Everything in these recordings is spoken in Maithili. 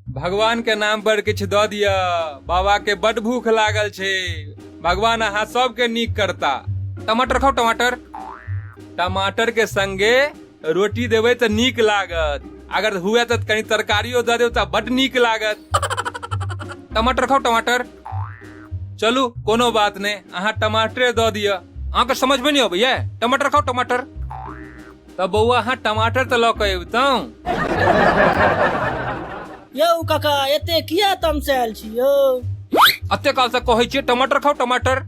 भगवान के नाम पर किछु दऽ दिअ बाबा के बड भूख लागल छै भगवान अहाँ सबके नीक करता टमाटर खाओ टमाटर टमाटर के संगे रोटी देबै तऽ नीक लागत अगर हुए तऽ कनी तरकारियो दऽ देब तऽ बड नीक लागत टमाटर खाउ टमाटर चलू कोनो बात नहि अहाँ टमाटरे दऽ दिअ अहाँके समझमे नहि अबैया टमाटर खाउ टमाटर तऽ बौआ अहाँ टमाटर तऽ लऽ कऽ अबितहुँ यौ काका एते किया तमसायल छी यौ अते काल से कहै छियै टमाटर खाओ टमाटर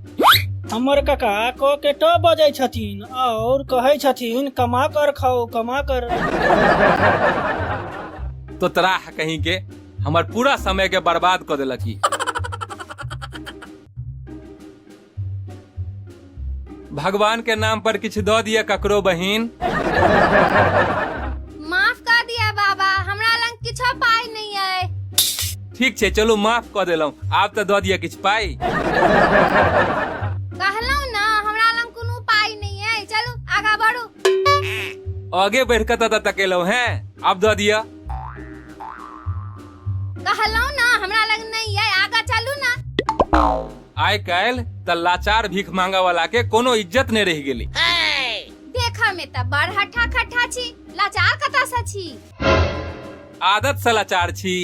हमर काका क के ट बजै छथिन और कहै छथिन कमा कर खाओ कमा कर तो तराह कहीं के हमर पूरा समय के बर्बाद कर देलक ई भगवान के नाम पर किछु दऽ दिअ ककरो बहिन माफ कऽ दिअ बाबा हमरा लग किछो पाइ नहि अइ ठीक छै चलू माफ कऽ देलहुँ आब तऽ दऽ दिअ किछु पाइ कहलहुँ ने हमरा लग कोनो पाइ नहि अइ चलू आगाँ बढ़ू आगे बढ़ि कऽ तऽ तकेलहुँ हैं आब दऽ दिअ कहलहुँ ने हमरा लग नहि अइ आगाँ चलू ने आइ काल्हि त लाचार भीख मांगा वाला के कोनो इज्जत नहीं रह गेली देखा में त बड़ हठा खठा छी लाचार कता सा छी आदत से लाचार छी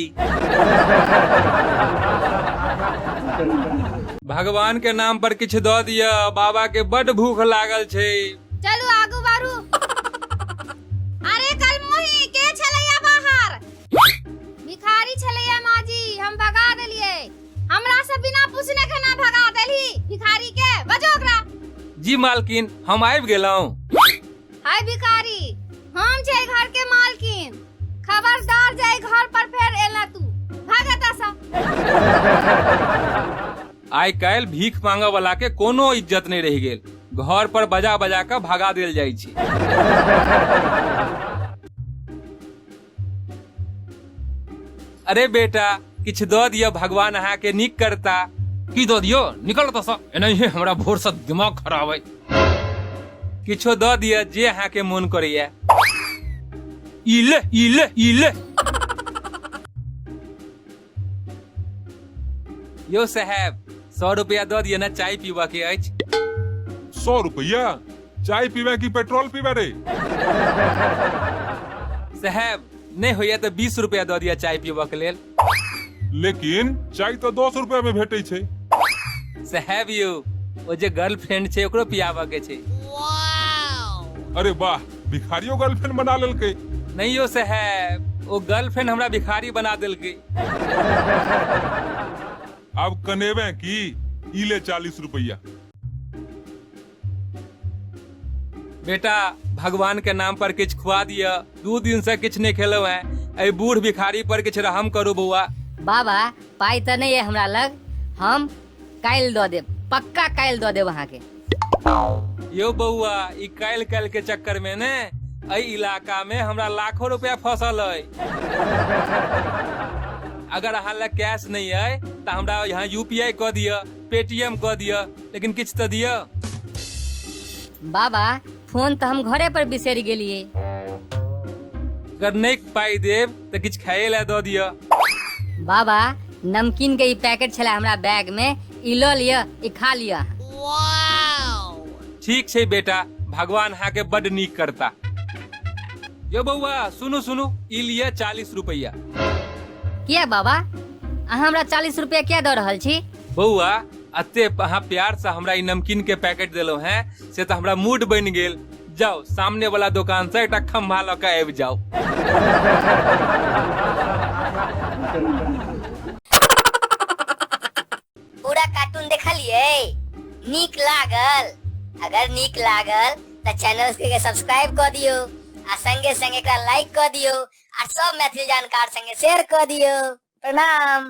भगवान के नाम पर किछु द दिया बाबा के बड भूख लागल छै चलू आगू बारू अरे कल मोही के छलैया बाहर भिखारी छलैया माजी हम भगा देलियै हमरा से बिना पूछने खाना भगा देली भिखारी के बजो ओकरा जी मालकिन हम आबि गेलहुँ हाय भिखारी हम छै घर के मालकिन खबरदार जाय घर पर फेर एला तू भाग एतऽ सँ आइ काल्हि भीख मांगऽ वाला के कोनो इज्जत नहि रहि गेल घर पर बजा बजा कऽ भगा देल जाइ छै अरे बेटा किछु दऽ दिअ भगवान अहाँके नीक करता की दऽ दियो निकल ओतऽसँ एनाहिए हमरा भोरसँ दिमाग खराब अइ किछो दऽ दिअ जे अहाँके मोन करैए ई ले ई ले ई ले यो साहेब सौ रुपया दऽ दिअ ने चाय पीबऽ के अछि सौ रुपया चाय पीबे की पेट्रोल पीबे रे साहेब नहि होइया तऽ बीस रुपया दऽ दिअ चाय पीबऽ के लेल लेकिन चाय तो दस रुपया में भेटे छे साहेब यौ ओ जे गर्लफ्रेंड छै ओकरो पियाबऽ के छै अरे वाह भिखारियो गर्लफ्रेंड बना लेलकै नहीं यो से है वो गर्लफ्रेंड हमरा भिखारी बना देलकै अब कनेबे की ई ले चालीस रुपया बेटा भगवान के नाम पर किछ खुआ दिया दू दिन से किछ नहीं खेलो है ए बूढ़ भिखारी पर किछ रहम करू बौआ बाबा पाइ तऽ नहि अइ हमरा लग हम काल्हि दऽ देब पक्का काल्हि दऽ देब अहाँके यो बौआ ई काल्हि काल्हि के चक्कर में ने एहि इलाका में हमरा लाखों रुपया फसल है अगर अहाँ लग कैश नहीं है तो हमरा यहाँ यूपीआई कऽ दिअ पेटीएम कऽ दिअ लेकिन किछु तऽ दिअ बाबा फोन तऽ हम घरे पर बिसरि गेलिए अगर नहीं पाई देब तऽ किछु खाए लए दऽ दिअ बाबा नमकीन के ई पैकेट छला हमरा बैग में ई लऽ लिअ ई खा लिअ ठीक छै बेटा भगवान हाँ के बड नीक करता यो बौआ सुनू सुनू ई लिया चालीस रुपैया किया बाबा अहाँ हमरा चालीस रुपया किया दऽ रहल छी बौआ अते अहाँ प्यार से हमरा ई नमकीन के पैकेट देलहुं हैं से तऽ हमरा मूड बनि गेल जाओ सामने वाला दुकान से एक खम्भा लऽ के आबि जाओ पूरा कार्टून देखलिए नीक लागल अगर नीक लागल तो चैनल के सब्सक्राइब कर दियो आ संगे संगे का लाइक कर दियो आ सब मैथिली जानकार संगे शेयर कर दियो प्रणाम